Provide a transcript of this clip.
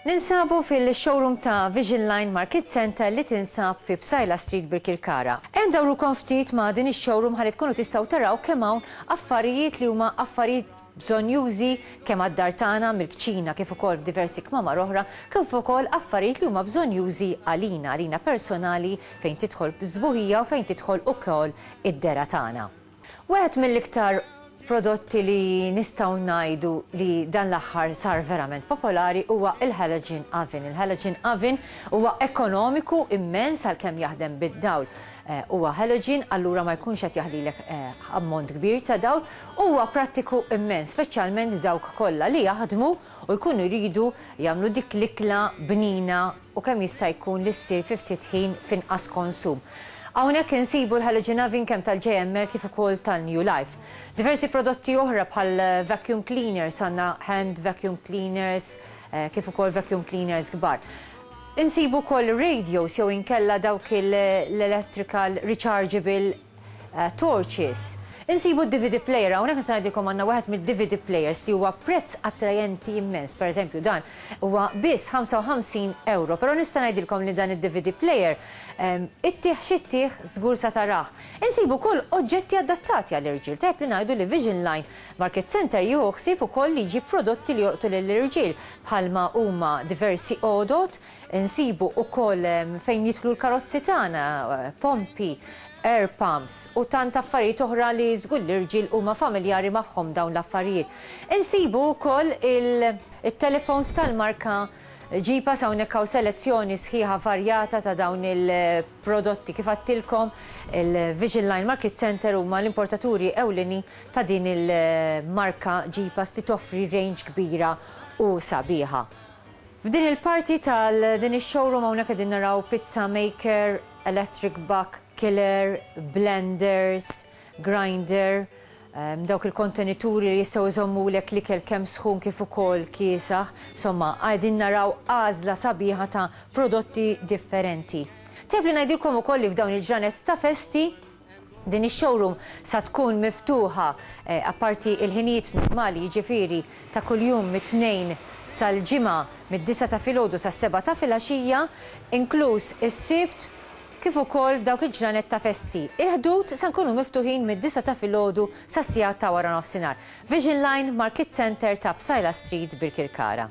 Ninsabu fil-showroom ta' Vision Line Market Center li tinsab fi Bsajla Street Birkirkara. Hemm dawru konftit ma' din ix-showroom ħalli tkunu tistgħu taraw kemm hawn affarijiet li huma affarijiet bżonjużi kemm għad-dar tagħna mill-kċina kif ukoll f'diversi kmamar oħra, kif ukoll affarijiet li huma bżonjużi għalina, għalina personali fejn tidħol s-sbuħija u fejn tidħol ukoll id-dergħa tagħna. Wieħed mill-iktar prodotti li nistgħu ngħidu li dan l-aħħar sar verament popolari huwa l-halogen oven. Il-halogen oven huwa ekonomiku immens għalkemm jaħdem bid-dawl. huwa halogen allura ma jkunx qed jaħlilek ammont kbir ta' dawl u huwa prattiku immens, speċjalment dawk kollha li jaħdmu u jkunu jridu jagħmlu dik l-ikla bnina u kemm jista' jkun li ssir fi ftit ħin f'inqas konsum. Hawnhekk insibu l-halogen oven kemm tal-JML kif ukoll tal-New Life. Diversi prodotti oħra bħal vacuum cleaners, għandna hand vacuum cleaners kif ukoll vacuum cleaners kbar. Insibu wkoll ir-radios jew inkella dawk l-electrical rechargeable torches. Insibu d-DVD player, hawnhekk nista' ngħidilkom għandna wieħed mid-DVD players li huwa prezz attrajenti immens, pereżempju dan huwa biss 55 ewro, però nista' ngħidilkom li dan id-DVD player ittih xi ttih żgur sa tarah. Insibu wkoll oġġetti adattati għall-irġiel, tajjeb li ngħidu li Vision Line Market Centre jieħu ħsieb ukoll li jġib prodotti li jolqtu lill-irġiel bħalma huma diversi għodod, insibu ukoll fejn jidħlu l-karozzi tagħna, pompi, air pumps u tant affarijiet oħra li żgur l-irġiel huma familjari magħhom dawn l-affarijiet. Insibu ukoll it-telefons tal-marka Jeepus hawnhekk hawn selezzjoni sħiħa varjata ta' dawn il prodotti. Kif għedtilkom, il-Vision Line Market Centre huma l-importaturi ewlenin ta' din il-marka Jeepas li toffri range kbira u sabiħa. F'din il-parti tal din ix-showroom hawnhekk qegħdin naraw pizza maker, electric buck killer, blenders, grinder, dawk il-kontenituri li jistgħu jżommulek l-ikel kemm sħun kif ukoll kiesaħ, insomma qegħdin naraw għażla sabiħa ta' prodotti differenti. Tajjeb li ngħidilkom ukoll li f'dawn il-ġranet ta' festi din ix-showroom sa tkun miftuħa apparti il-ħinijiet normali jiġifieri ta' kuljum mit-Tnejn sal-Ġimgħa mid-disgħa ta' filgħodu sas-sebgħa ta' filgħaxija, inkluż is-Sibt kif ukoll dawk il-ġranet ta' festi. Il-ħdud se nkunu miftuħin mid-disgħa ta' filgħodu sas-sigħat ta' wara nofsinhar. Vision Line, Markiet Centre ta' Psaila Street, Birkirkara.